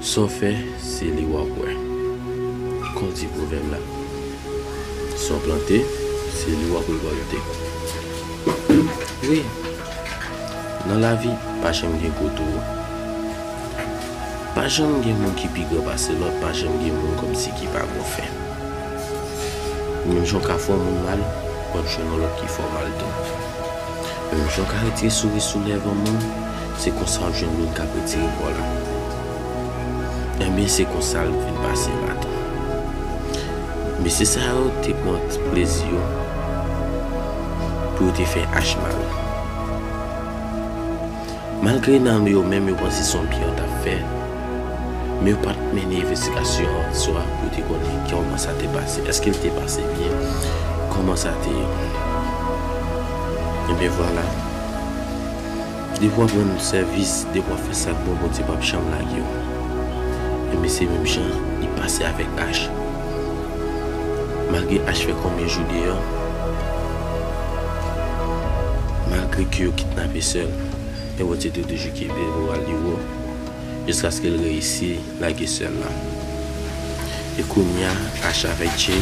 Sa w fè, se li w ap wè. Kon di pwovèb la. Sa w plante, se li w ap rekòlte. Wi, nan lavi, pa janm gen gwo tou wo. Pa janm gen moun ki pi gran pase lòt, pa janm gen moun kòmsi ki pa bon fè. Menm jan w ka fè yon moun mal, w ap jwenn yon lòt ki fè w mal tou. Jan w ka retire souri sou lèv yon moun, se konsa w jwenn moun k ap retire po la. Enben se konsa l vin pase baton. Mesye sa yo te pran ti plezi yo pou yo te fè Ashma ri. Malgre nan yo menm yo panse se yon byen yo t ap fè, men yo pa t mennen envestigasyon an sou a pou yo te konnen kòman sa te pase. Èske l te pase byen? Kòman sa te ye? Enben vwala, depi w ap rann sèvis, depi w ap fè sa k bon, Bondye pap janm lage w. Enben se menm jan li pase avèk Ach. Malgre Ash fè konbyen jou deyò, malgre ke yo kidnape sè l, men Bondye te toujou kenbe moral li wo jiskaske l reyisi lage sè l lan. E kounya Ash avèk Jay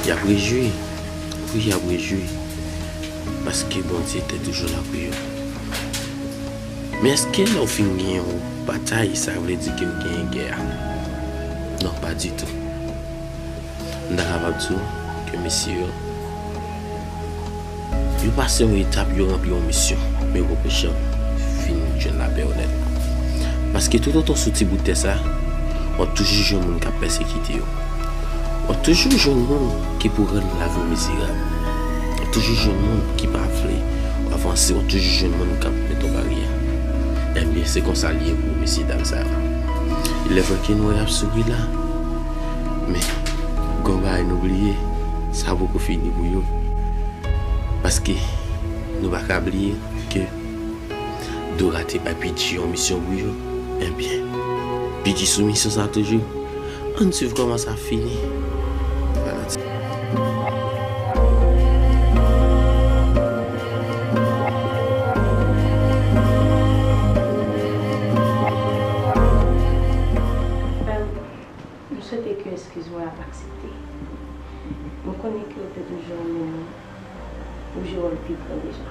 y ap rejwi, wi y ap rejwi paske Bondye te toujou la pou yo. Men eske lè ou fin gen yon batay sa vle di ke ou genyen gè a? Non pa ditou. M ta kapab di w ke mesye yo, yo pase yon etap, yo ranpli yon misyon, men yo poko janm fin jwenn lapè onèt. Paske toutotan w sou ti bout tè sa, w ap toujou jwenn moun k ap pèsekite yo. W ap toujou jwenn moun. Ki pou rann lavi w mizerab. Wap toujou jwenn moun ki pa vle w avanse, wap toujou jwenn moun kap met w baryè. Enbyen se konsa li ye pou mesye dam sa yo. Lèfè ke nou wè yap souri la, men gen yon bagay nou bliye, sa poko fini pou yo. Paske nou pa ka bliye ke Dora te bay Pidji yon misyon pou yo, enbyen Pidji sou misyon sa toujou. Ann swiv kòman sa fini fanatik. Frèm, m swete ke eskiz mwen ap aksepte. M konnen ke ou te toujou renmen mwen, ou jwe wòl pi gran deja.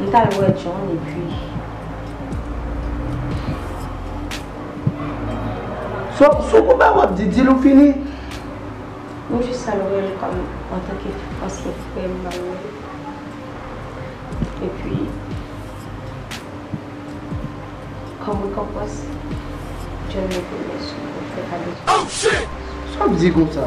M t al wè John epi. Sou kou ba w ap di, di l ou fini. M jis al wè l kòm antanke ansyen frè m m al wè l. Epi kòm rekonpans John mete m nan sou fè kado. Sa w ap di konsa?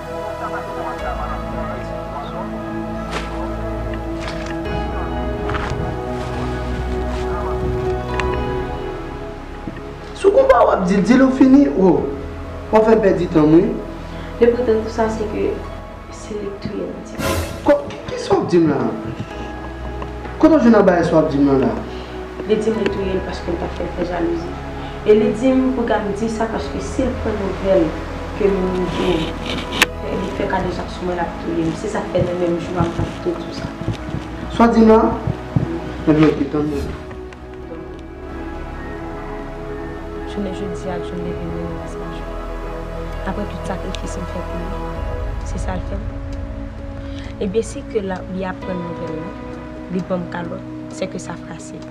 Sou konpa wap dil dil ou fini oo wap fèm pèdi tanm wi. Lepotan tou sa se ke se li k touye Nadia. Kisa wap dim la? Kote w jwenn anbayè sa wap dim lan la? Li dim li touyel paskel tap fèl fè jalouzi. E li di m pou Gam di sa paske si l pran nouvèl ke m yon jou fè li fè kadejak sou mwen l ap touye m. Se sa k fè nan menm jou a m pa kite di w sa. Sa w di m la? Ebyen ok, tann mwen. Jounen jodi a jou leve m li nan Las Majò. Aprè tout sakrifis m fè pou li, se sa l fè m. Ebyen si ke li aprann nouvèl lan, li ban m kalòt, sè ke sa frase l.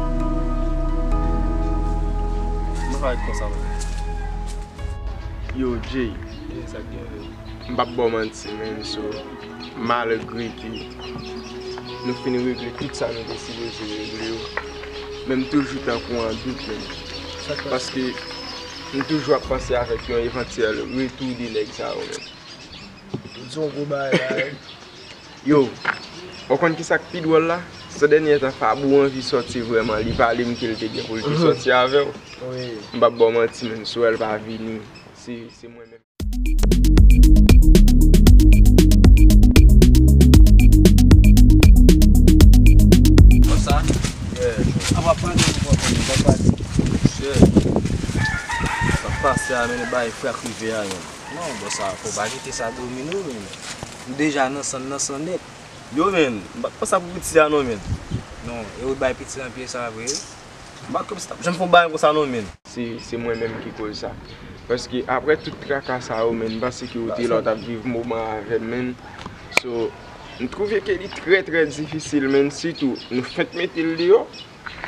Yo Jay, m pap baw manti menn so, malgre ke nou fin regle tout sa nou te sipoze regle yo, men m toujou tankou an dout menn. Paske m toujou ap panse avèk yon evantyèl retou de nèg sa yo menn. Yo, ou konn kisa k pi dwòl la? Sè dènyè tan Fabou anvi sòti vrèman, li pale m ke l te gen pou l te sòti avè w. M pap ba w manti menn, si w wè l pa vini, se se mwen menm. Konsa? Yeah. Apa pran de pou konprann li, bab pati. Mesye, sa k pase a menm li bay frè k rive a menm. Non, bò sa, fò w pa kite sa domi nou menm. M deja nan san nan san nèt. Yo menn, m pa t panse a pou piti a non menn. Non, e ou t bay piti nan pye sa vre? M pa t kwè misye t ap janm fè yon bagay konsa non menn. Se mwen menm ki koz sa. Paske aprè tout traka sa yo menn, m panse ke ou te la ou t ap viv moman an avè m menn. So, m twouve ke li trè trè difisil menn sitou nou fenk mete l deyò.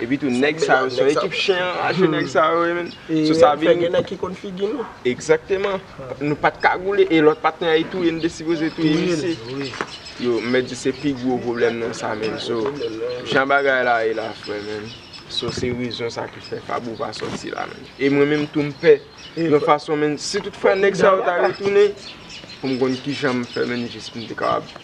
Epi tou nèg sa yo se yon ekip chen anraje nèg sa yo ye menn. Sou sa vini. Fè gen nèg ki konn figi nou. Egzakteman. Nou pat kagoule e lòt patnè a e touye n te sipoze touye misye. Yo m mèt di se pi gwo pwoblèm nan sa menn. So jan bagay la ye la frè menn. So se rezon sa ki fè Fabou pa sòti la menn. E mwen menm tou m pè. Yon fason menn si tout fwa nèg sa yo ta retounen pou m konn kijan m fè menn jis pou m te kapab.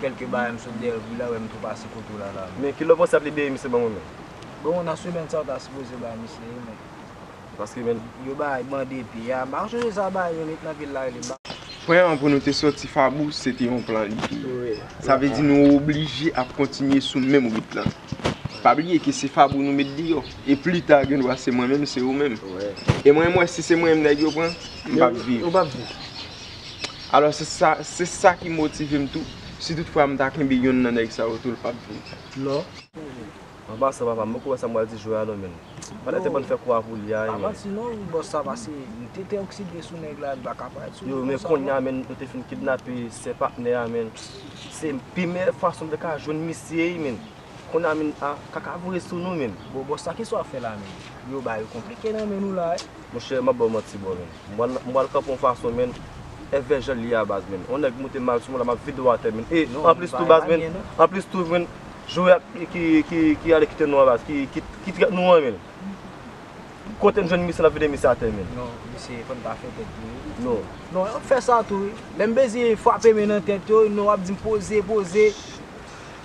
Kelke bagay m sot dèyèl wi la wèm tou pase kote w la la men. Men kilè w panse yap libere misye banm yon men. Bon nan semèn sa yo ta sipoze bay misye wi men. Paske men. Yo bay bandi epi a pa sonje sa bay yon nèg nan vil la rele ba. Pwen an pou nou te soti fabou se te yon plan li te ye. Sa vle di nou oblije ap kontinye sou menm rit lan. Pa bliye ke se fabou nou met deyò. E plita gen dwa se mwen menm se ou menm. E mwen m wè si se mwen menm nèg yo pran m pap viv. Alò se sa, se sa ki motive m tou, si tout fwa m ta kenbe yonn nan nèg sa yo tou l pap vini. Non. An pasan papa m poko wè sa m pral di jwè a non menn. Pandan te bann fè kou a pou li a, men. Avanti non wi bòs sa pase m te te okside sou nèg la li pa ka parèt sou li konsa non. Yo men konnya menn yo te fin kidnape sè patnè a menn. Se pi meyè fason m te ka jwenn misye wi menn. Kona min a kaka voye sou nou min. Bon bòs la kisa wap fè la min. Yo bagay yo konplike nan men nou la wi. Monchè map baw manti bro min. M pral kanpe yon fason min. Fè janl ye a baz min. Yon nèg moute mal sou mwen la map vide ou atè min. E anplis tou baz min. Anplis tou min. Jwe ak ki ale kite nou an baz. Ki trèt nou an min. Kotem jwenn misye lap vide misye atè min. Non mesye fòn ta fè tèt nou wi. Non. Non yo ap fè sa tou wi. Lèm bezyen frape min nan tèt yo. Non wap dim poze poze.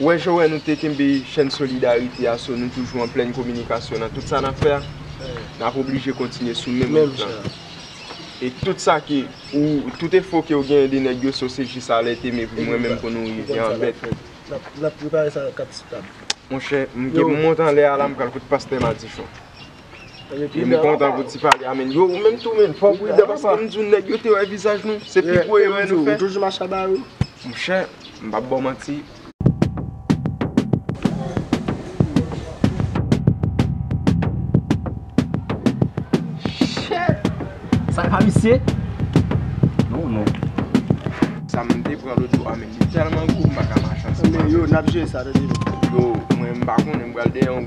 Wè Jowè nou te kenbe chèn solidarite a so nou toujou an plèn kominikasyon nan tout sa nap fè a nap oblije kontinye sou menm wout lan e tout sa ke ou tout efo kew genyen de nèg yo so se jis alète me pou mwen menm pou nou rive an bèt monchè m gen pou mont anlè a la m pral kot pastè madichon. Yo m kontan pou ti pale a men. Yo ou menm tou men, fò w pridan paske m di w nèg yo te wè vizaj nou, se pi gwo erè nou fè. Monchè, m pap ba w manti. Sa e pa misye? Non non. Sa m te pran lòt jou a menm, li tèlman gwo m pa ka mache ansanm avè l. Yo, mwen m pa konnen m pral dèyè yon.